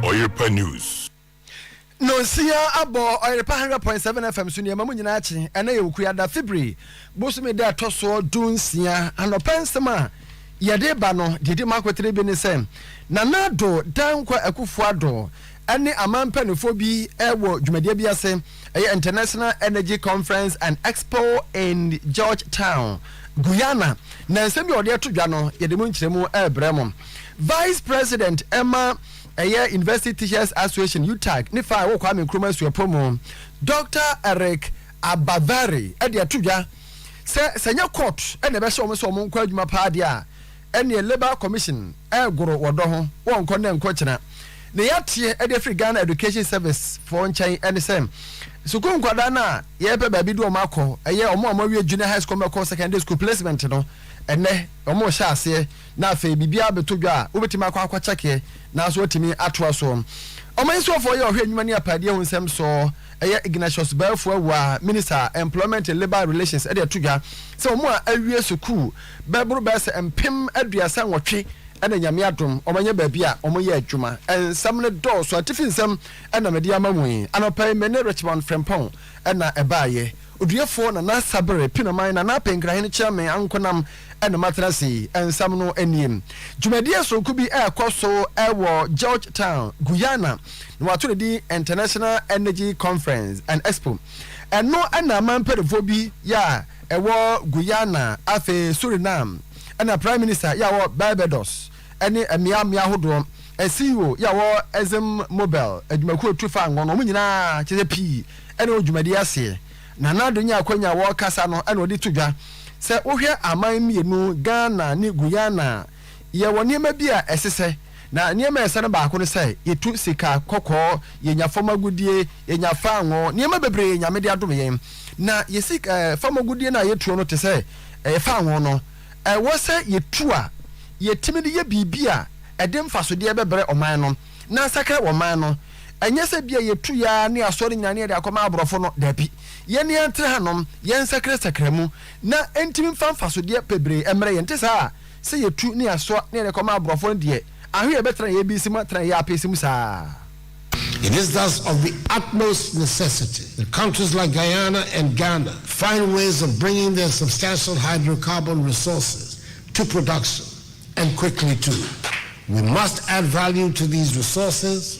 Ɔyerepa News. Nonsia abɔ Ɔyerepa 100.7 FM so nneɛma mu nyinaa kye ɛna yɛ okua da Fibri bosome da ɛtɔ soɔ du nsia anɔpa nsɛm a yɛde ba no deɛ di mu akotire bi ne sɛ Nana Addo Dankwa Akufo-Addo ɛne aman mpanimfoɔ bi wɔ dwumadie bi ase, ɛyɛ International Energy Conference and Expo in Georgetown, Guyana, na nsɛm bi a wɔde ato dwa no, yɛde mu nkyerɛmu rebrɛ mo. Vice President ɛma ɛyɛ University Teachers Association, UTAG, ne fa a ɛwɔ Kwame Nkrumah Suapɔn mu, Doctor Eric Abavary de ato dwa sɛ sɛ ɛnyɛ court na ɛbɛhyɛ wɔn sɛ wɔn nkɔ adwuma paa deɛ a, ɛneɛ labour commission ɛgoro wɔ dɔ ho wɔ nkɔ nnɛ nkɔ kyena ne yɛateɛ ɛde afiri Ghana education service foɔ nkyɛn ɛne sɛ sukuu nkwadaa no a yɛpɛ baabi de wɔn akɔ ɛyɛ wɔn a wɔn awie junior high school mɛkɔ secondary school placement no ɛnɛ wɔn rehyɛ aseɛ na afei biribiara bɛtɔ dwa a wobɛtumi akɔ akɔ kyɛkeɛ nanso watumi atoa soɔ ɔman nsuafoɔ yɛ ɔhwɛ nnwuma ne apadeɛ ho nsɛm soɔ ɛyɛ Ignatius Baafu Awuah minister employment and labour relations ɛde ato dwa sɛ wɔn a awie sukuu bɛboro bɛyɛ sɛ mpem aduasa nwɔtwe na Nyame adom wɔanya baabi a wɔyɛ adwuma. Nsɛm no dɔɔso, atifi nsɛm na mede ama mo yi. Anɔpa yi me ne Richmond Frimpong na ɛbaeɛ. Oduefoɔ Nana Sabere Pinaman, Nana Apɛ Nkrahene Kyerɛme Ankonam na matena ase yi. Nsɛm no nie, Dwumadie soronko bi rekɔ so wɔ Georgetown, Guyana, na wɔato no din International Energy Conference and Expo. Ɛno na aman mpaninfoɔ bi yɛ a ɛwɔ Guyana, afei Suriname, na Prime Minister yɛ a wɔ Barbados ne mmea mmea ahodoɔ, CEO yɛ a wɔ Exxon Mobel adwumakuo tu fa ngo no, wɔn nyinaa kyɛ sɛ pii na wɔ dwumadie aseɛ. Nana Addo nyaa akwanya a wɔkasa no na ɔde to dwa sɛ wohwɛ aman mmienu, Ghana ne Guyana, Yɛwɔ nneɛma bi a ɛsesɛ, na nneɛma a ɛsɛ no baako ne sɛ yɛtu sika, kɔkɔɔ, yɛnya fam agodie, yɛnya faango, nneɛma bebree a Nyame de adom yɛn. Na yɛ sik eh, fam agodie no a yɛtuo no te sɛ eh, faango no, ɛwɔ sɛ yɛtu a yɛtumi de yɛ biribi a ɛde mfasodeɛ bɛbrɛ ɔman no, na asakra ɔman no. Ɛnyɛ sɛ bia yɛtu yɛ ara ne asɔre nyina ne yɛde akɔma aborɔfo no, daabi. Yɛn yɛntra hanom, yɛnsakra sakra mu, na ɛntumi mfa mfasodeɛ bebree mmrɛ yɛn, ɛnte saa? sɛ yɛtu ne yɛasoa ne yɛde kɔ ma aborɔfoɔ no deɛ, ahe na yɛbɛtena yɛn abisi mu atena yɛn apese mu saa? It is thus of the utmost necessity that countries like Guyana and Ghana find ways of bringing their substantial hydrocarbon resources to production, and quickly too. We must add value to these resources,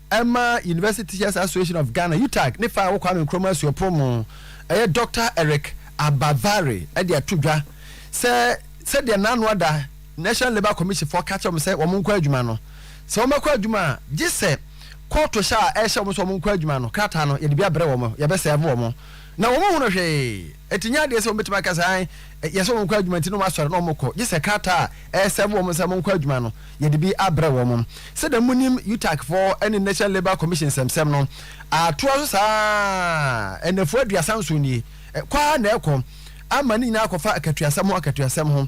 ɛma University Teachers Association of Ghana, UTAG, ne faa wɔ Kwame Nkrumah Suapɔn mu, ɛyɛ Doctor Eric Abavare de ato dwa sɛ sɛdeɛ n'ano ada National Labour Commission foɔ ka kyerɛ wɔn sɛ wɔn nkɔ adwuma no, sɛ wɔbɛkɔ adwuma a, gye sɛ kɔɔto hyɛ a ɛrehyɛ wɔn sɛ wɔn nkɔ adwuma no krataa no yɛde bi abrɛ wɔn, yɛbɛsɛɛve wɔn na wɔn nhunu hwee. Enti nyɛ adeɛ sɛ wɔbɛtumi aka sɛ ae yɛ sɛ wɔnkɔ adwuma nti na wɔasɔre na wɔkɔ, gye sɛ krataa a ɛresɛɛve wɔn sɛ monkɔ adwuma no, yɛde bi abrɛ wɔn. Sɛdeɛ monim UTAC foɔ ne National Labour Commission nsɛmsɛm no, atoa so saa ara, nnafua aduasa nson nie, kɔ ara na ɛrekɔ, ama ne nyinaa akɔfa akatuasɛm ho akatuasɛm ho.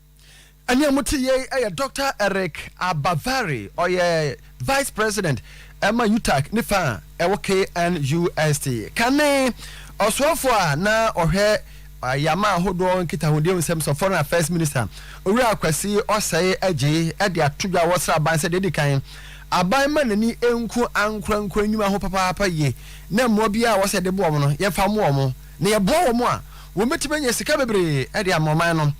Nea mote yei yɛ Dɔkta Eric Abavary, ɔyɛ Vice President ma UTAG ne fã a ɛwɔ KNUST. Kane ɔsoafoɔ a na ɔhwɛ ayɛama ahodoɔ nkitahodie ho nsɛm so, Foreign Affairs Minister, Owura Kwasi Ɔsɛe Adjei de ato dwa wɔ sraban sɛ deɛ ɛdi kan, aban mma n'ani nku ankorankoro nnwuma ho papaapa yie na mmoa biara a wɔsɛ yɛde boa wɔn no, yɛmfa mmoa wɔn. na yɛboa wɔn a, wɔbɛtumi anya sika bebree de ama ɔman no.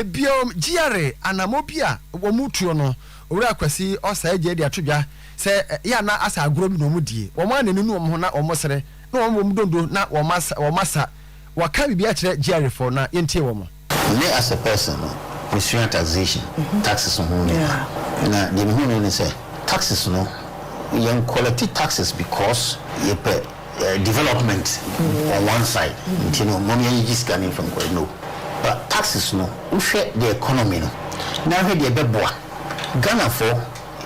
Bio, GRA anammɔ bi a wɔretuo no, Owura Kwasi Ɔsɛe Adjei de ato dwa sɛ yɛ a na asɛ agorɔ bi na wɔdie. Wɔn a na ɛnunu wɔn ho na wɔsere, na wɔn bom donno na wɔasa. Wɔka biribi akyerɛ GRAfoɔ na yɛntie wɔn. Me as a person no, mesua taxation, taxes ho nneɛma. Na deɛ mehu no ne sɛ, taxes no, yɛn collect taxes because yɛpɛ development on one side nti no mom yɛnyegye sika no mfa nkɔ no. But taxes no, wohwɛ the economy no na wohwɛ deɛ ɛbɛboa Ghanafoɔ,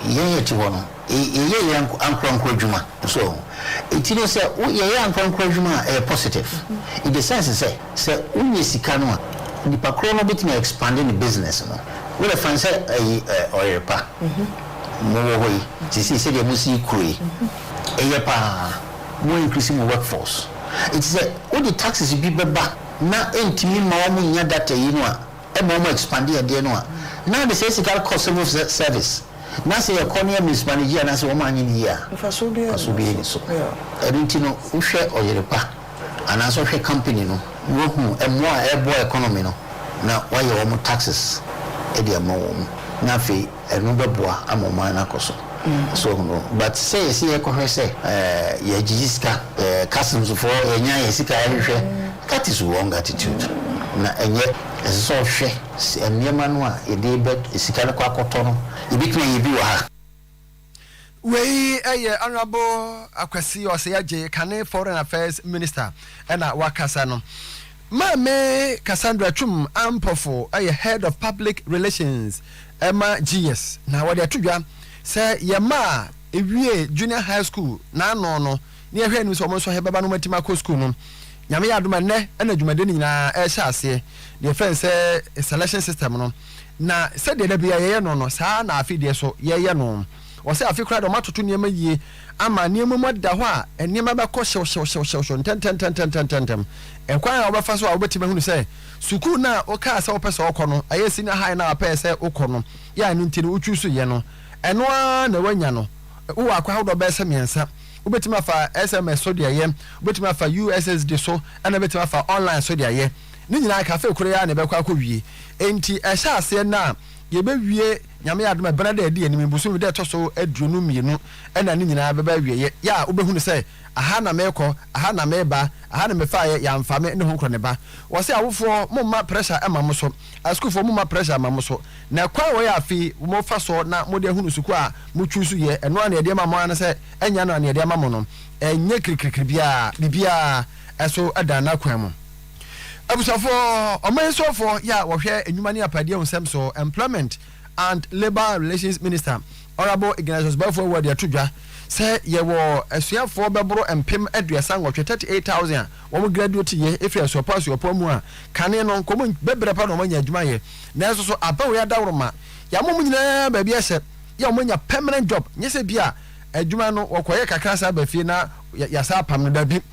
yɛn a yɛte hɔ no, yɛyɛ yɛ ankorankoro adwuma so ɔho nti no sɛ wo yɛyɛ ankorankoro adwuma a ɛyɛ positive in the sense sɛ sɛ wo nyɛ sika no a nipa korɔ no bɛtumi a expande ne business no wo dɛ fan sɛ ayi ɔyere pa mo wɔ hɔ yi sisi sɛ deɛ mo si kuro yi ɛyɛ paa mo increase mo work force nti sɛ wo de taxes bi bɛba na ɛntumi ma wɔn nya data yi no a ɛma ɔmo expande adeɛ no a na ade saa sika no kɔ civil service na sɛ yɛkɔ no yɛ mismanage anaa sɛ ɔmo anyɛ no yie a Mfasoɔ biara mfasoɔ biara nni so Yeah. ɛno nti no wohwɛ ɔyere pa anaa sɛ wohwɛ company no na wahu mmoa a ɛboa economy no na wayɛ ɔmo taxes de ama wɔn na afei. Ɛno bɛboa ama ɔman no akɔ so. So ɔho no? But sɛ yɛse yɛrekɔhwɛ sɛ yɛgyegye sika, customs foɔ, yɛnya yɛn sika yɛhwehwɛ, that is wrong attitude. Na ɛnyɛ, ɛsɛ sɛ ɔhwɛ nneɛma no a yɛde bɛ, sika no kɔ akɔtɔ no, yɛbɛtumi ayɛ bi wɔ ha. Wei yɛ Honourable Akwasi Osei-Adjei, kane Foreign Affairs Minister na wakasa no. Maame Cassandra Twum Ampofo yɛ Head of Public Relations ma GS na wɔde ato dwa sɛ yɛn mma a ɛwie Junior High School n'ano no ne yɛhwɛ anim sɛ wɔn nso yɛbɛba no wɔatumi akɔ sukuu no. Nyame yɛ adom a nnɛ na dwumadie no nyinaa ɛrehyɛ aseɛ, deɛ yɛfrɛ no sɛ selection system no, na sɛdeɛ da biara yɛyɛ no no saa ara na afe deɛ so yɛyɛ no. Ɔsɛ afe koraa na wɔatoto nneɛma yie ama nneɛma mu ada hɔ a nneɛma bɛkɔ hyewhyewhyewhyew ntɛntɛntɛntɛntɛntɛm. Ɛkwan a wobɛfa so a wobɛtumi ahunu sɛ sukuu no a wokaa sɛ wopɛ sɛ wokɔ no, ɛyɛ senior high no a wopɛɛ sɛ wokɔ no yɛ a ɛno nti no wochuusuiɛ no, ɛno ara na woanya no. Wowɔ akwan ahodoɔ bɛyɛ sɛ mmiɛnsa. Wobɛtumi afa SMS so de ayɛ, wobɛtumi afa USSD so, ɛnna wobɛtumi afa online so de ayɛ. Ne nyinaa ka afe koro yi ara na ɛbɛkɔ akɔwie. Enti ɛhyɛ aseɛ nnɛ a, yɛbɛwie Nyame adom a, ebɛnada a edi enim yi, bosome da a ɛtɔ so aduonu mmienu na ne nyinaa bɛba awieɛ, yɛ a wobɛhu no sɛ, aha na merekɔ, aha na mereba, aha na mefaaeɛ, yɛamfa me ne honkorɔ ne ba. Wɔse awofoɔ, momma pressure mma mo so, asukuufoɔ momma pressure mma mo so, na kwan a wɔyɛ afe yi mofa soɔ na mode ahunu sukuu a mo choose yɛ, ɛno ara na yɛde ama mo ara ne sɛ, ɛnyɛ ɛno a na yɛde ama mo no, ɛnyɛ kirikirikiri biara, biribiara so dan n'akwan mu. Abusuafo, ɔman soafo yi a wɔhwɛ nnwuma ne apɛdeɛ nsɛm so, Employment and Labour Relations Minister, Honourable Ignatius Baffour Awuah de ato dwa sɛ yɛwɔ asuafoɔ bɛboro mpem aduasa nwɔtwe, 38,000, a wɔn graduateeɛ ɛfiri asuapɔn asuapɔn mu a kane no nka wɔn bɛbrɛ pa na wɔn anya adwuma ayɛ nanso so abɛn wɔn adaworoma yɛama wɔn nyinaa baabi ɛsɛ yɛ wɔn anya permanent job nyɛ sɛ bi a adwuma no wɔkɔyɛ kakra saa ba fie na yɛasa apam no dabi.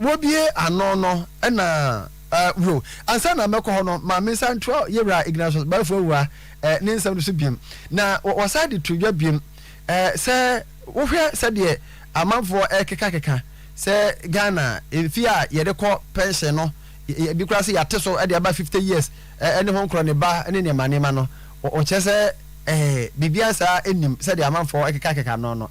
Wɔbue ano no na eh, wio. Ansa na mɛkɔ hɔ no, ma mensa ntoa Yewura Ignatius Bafua-Awuah eh, ne nsɛm no so biom. Na wɔsan de to dwa biom eh, sɛ wohwɛ sɛdeɛ amanfoɔ ɛrekekakeka sɛ Ghana mfeɛ a yɛde kɔ pɛnhyɛn no, ebi koraa sɛ yɛate so de aba 50 years eh, ne ho nkorɔ ne ba ne nneɛma nneɛma no, wɔkyerɛ sɛ eh, biribiara saa nnim sɛdeɛ amanfoɔ ɛkekakeka no no.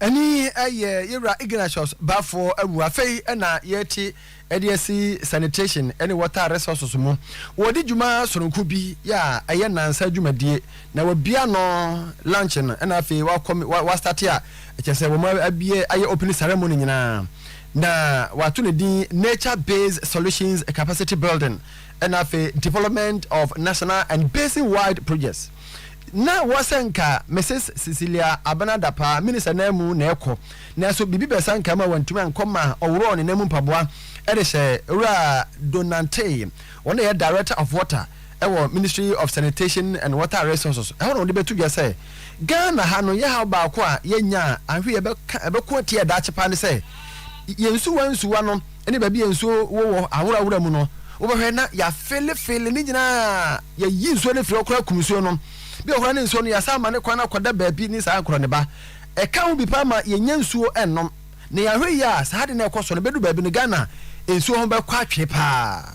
Ɛne yɛ yɛwura Ignatius Baffour awu. Afei na yɛte ɛde asi sanitation ne water resources mu. Wɔde dwuma sononko bi yɛ a ɛyɛ nansa adwumadie na wabia ano launch no ɛna afei wakɔ wastate a ɛkyɛ sɛ wɔn abie ayɛ opening ceremony nyinaa na wato ne din Nature Based Solutions Capacity Building ɛna afei Development of National and Basin Wide Projects Ná ɛwɔ sɛ anka Misus Cecilia Abena Dapaah Minister nan mu na ɛkɔ, nanso biribi bɛsa nka ma wantumi ankɔ ma ɔworɔɔ ne nan mu mpaboa de hyɛɛ Owura Donante, wɔn na ɛyɛ Director of Water wɔ Ministry of Sanitation and Water Resources, ɛhɔ na wɔde bɛto dwa sɛ, Ghana ha no, yɛhaw baako a yɛanya a anhwɛ yi ɛbɛko atia daakye paa ne sɛ yɛn nsuwa nsuwa no. ne baabi a nsuo wɔ wɔ aworawora mu no, wobɛhwɛ na yɛafelefele ne nyinaa, yɛyi nsuo no firi hɔ koraa kum nsuo no. Bi wɔ hɔ koraa ne nsuo no yɛasan ama no kwan akɔda baabi ne saa korɔ ne ba. Ɛka ho bi paa ma yɛnnya nsuo nnom. Na yɛanhwɛ yie a, saa ade no ɛkɔ so no, ɛbɛduru baabi no, Ghana nsuo ho bɛkɔ atwee paa.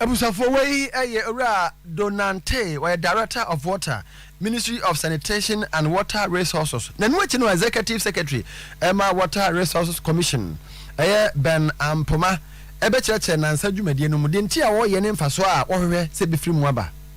Abusuafoɔ wei yɛ Owura Do Nantey, ɔyɛ Director of Water, Ministry of Sanitation and Water Resources. N'ano akyi no Executive Secretary ma Water Resources Commission, ɛyɛ Ben Ampoma, bɛkyerɛkyerɛ nansa dwumadie no mu, deɛ nti a wɔyɛ ne mfasoɔ a wɔhwehwɛ sɛ ɛbɛfiri mu aba.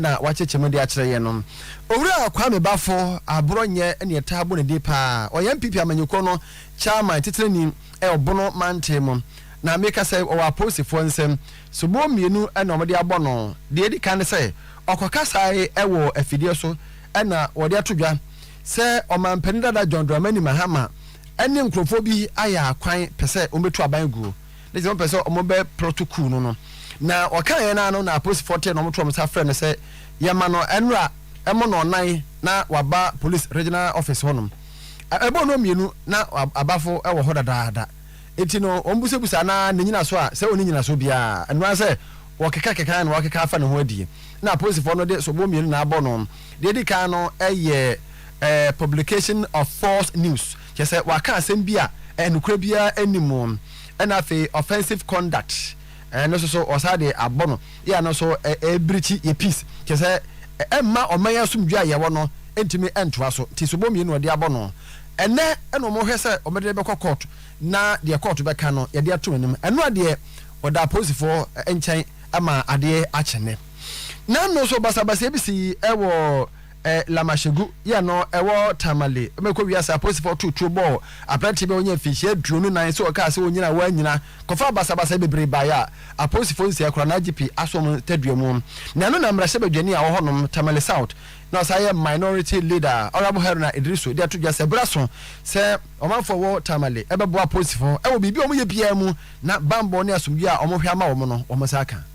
na wɔakyekye mu de akyerɛ yɛn no. Owura Kwame Bafo aborɔ nyɛ nea ɛtaa bɔ ne din pa ara. Ɔyɛ NPP amanyɔkuo no Chairman titenani wɔ Bono mantam mu, na meka sɛ ɔwɔ apolisifoɔ nsam. Soboɔ mmienu na wɔde abɔ no. Deɛ ɛdi kan ne sɛ, ɔkɔkasaeɛ wɔ afidie so na wɔde ato dwa sɛ ɔmampanin dada John Dramani Mahama ne nkurɔfoɔ bi ayɛ akwan pɛ sɛ wɔbɛtu aban guo. ne sɛ wɔpɛ sɛ wɔbɛprɔto kuu no no na wɔkaeɛ no ara no na apolisifoɔ tee na wɔtoo wɔn nsa frɛ no sɛ yɛma no nnora ɛmɔ no ɔnan na waba police regional office hɔnom ɛbɔ no mmienu na abafo wɔ hɔ dadaada enti no wɔbusabusa na ne nyina so a sɛ ɔne nyina so biara ɛnoa sɛ wɔkeka keka na wɔkeka afa ne ho adie na apolisifoɔ no de sobo mmienu na abɔ no deɛ ɛdi kan no ɛyɛ eh, publication of false news kyɛ sɛ wɔaka asɛm bi a eh, nokorɛ biara anim ɛna afei offensive conduct ɛno nso so ɔsan de abɔ no yɛ ano so ɛbirikyi yɛ peace kyɛ sɛ ɛmma ɔman asomdwe a yɛwɔ no ntumi ntoa so nti sobo mmienu ɔde abɔ no ɛnɛ ɛna wɔn hwɛ sɛ wɔn de bɛkɔ court na deɛ court bɛka no yɛde ato anim ɛno adeɛ ɔda apolisifoɔ nkyɛn ama adeɛ akyene na ɛno nso basabasa bi si ɛwɔ. Eh, Lamashegu yɛ no ɛwɔ Tamale. Mɛkɔ wiase apolisifoɔ too tuo bɔɔ aberanteɛ bi a ɔnyɛ mfinhyia aduonu nan sɛ ɔkaa sɛ ɔnyina a wannyina. Kɔfaa basabasayɛ bebree baeɛ a apolisifoɔ nsia kura no IGP Asom Taduamu. Na ɛno na mmarahyɛ badwani a ɔwɔ hɔnom, Tamale South, na ɔsan yɛ Minority Leader, Honourable Haruna Iddrisu de ato dwa sɛ berɛ aso sɛ ɔmanfoɔ a wɔwɔ Tamale bɛboa apolisifoɔ wɔ biribi a wɔyɛ biara mu na bammɔ ne asomdwoeɛ a wɔhwɛ ama wɔn no wɔn nsa aka.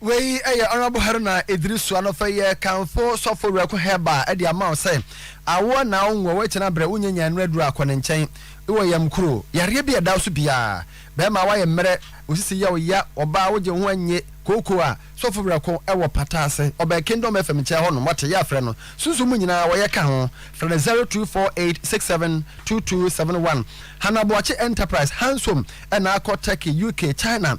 Wei yɛ Honourable Haruna Idrisu anɔfɛ yɛ kanfo sɔfo Werɛko Hɛba de ama wo sɛ awoɔ na wo nwoɔ woakyina brɛ wo nyanya nnuro aduro a kɔ ne nkyɛn wɔ yam kuro yareɛ bi a ɛda wo so biara bɛɛma woayɛ mmerɛ wo sisi yɛ wo ya ɔbaa wo gye wo ho annye kooko a sɔfo Werɛko wɔ pata ase ɔbɛn Kingdom FM nkyɛn hɔ nom wate yɛ afrɛ no sunsum mu nyinaa wɔyɛ ka ho frɛ no 0248672271 Hannah Boakye Enterprise Hansom ɛna akɔ Turkey UK China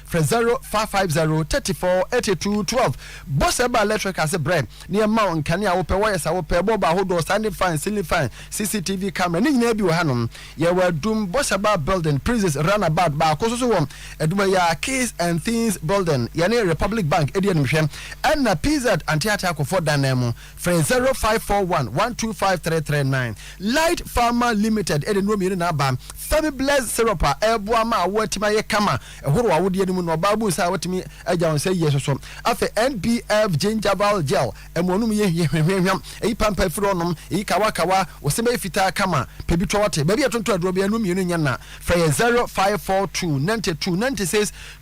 Frɛ zero five five zero thirty four eighty two twelve bɔ sɛ ɛba electric ase brɛ na yɛma wo nkanea a wopɛ, wires a wopɛ, bɔɔlbɔ ahodoɔ, standing fan, ceiling fan, CCTV camera ne nyinaa bi wɔ hanom. Yɛwɔ Adum bɔ sɛ bar building, Princes run about baako nso so wɔ Adum ha yi ara, Keys and Things building, yɛne Republic Bank di animhwɛ ɛna PZ Anteateakofoɔ dan nan mu. Frɛ 0541125339. Light Pharma Limited de nnuro mmienu na aba, Femibless Syrup a ɛboa ma awoɔ atumi ayɛ kama ɛhoro awodeɛ no mu na ɔbaa bu nsa a watumi agya wo nsa yie nso so. Afei NBF Gingival Gel, ɛmoanom yɛ hwamhwamhwam, ɛyi pampa firi hɔ nom, ɛyi kawakawa, wo se bɛyɛ fitaa kama, pɛ bi tɔ ɔte baabi a yɛtontɔn aduro biara nnuro mmienu nyɛ nna. Frɛ yɛn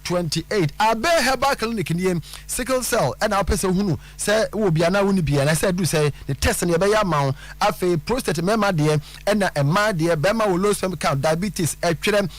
0542929628. Abeh Herbal Clinic nie, Sickle Cell na wopɛ sɛ wohunu. sɛ wowɔ bi anaa wonni bi anaasɛ aduru sɛ ne test no yɛbɛyɛ ama wo afei prostate mmarima deɛ ɛna mmaa deɛ bɛrima wɔ low sperm count diabetes ɛtwerɛ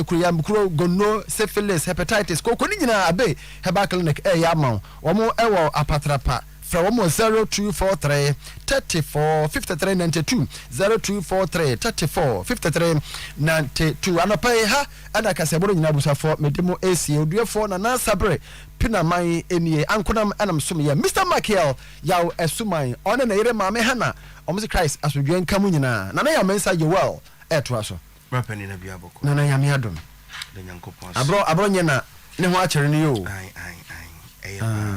kuruyamkuro gono syphilis hepatitis kooko ne nyinaa abe herbal clinic ɛyɛ ama wo wɔn ɛwɔ apatrapa frɛ wɔn wɔ zero two four three thirty four fifty three ninety two zero two four three thirty four fifty three ninety two anɔpa yi ha ɛna kasɛboro nyinaa busafoɔ mede mo esie oduafoɔ na nansabere Penaman nie ankonam na me som yɛ Mister Makiel Yaw Asuman ɔne ne yere Maame Hannah wɔn se Christ asodwoɛ nka mo nyinaa Nana Yaw Mensah Joel ɛɛtoa so. Bra pɛ nina bia bɔkɔ. Nana Nyame adom. Da Nyankopɔn ase. Abrɔ abrɔ nyɛ na ne ho akyere no yoo. Ae ae ae ɛyɛ paa.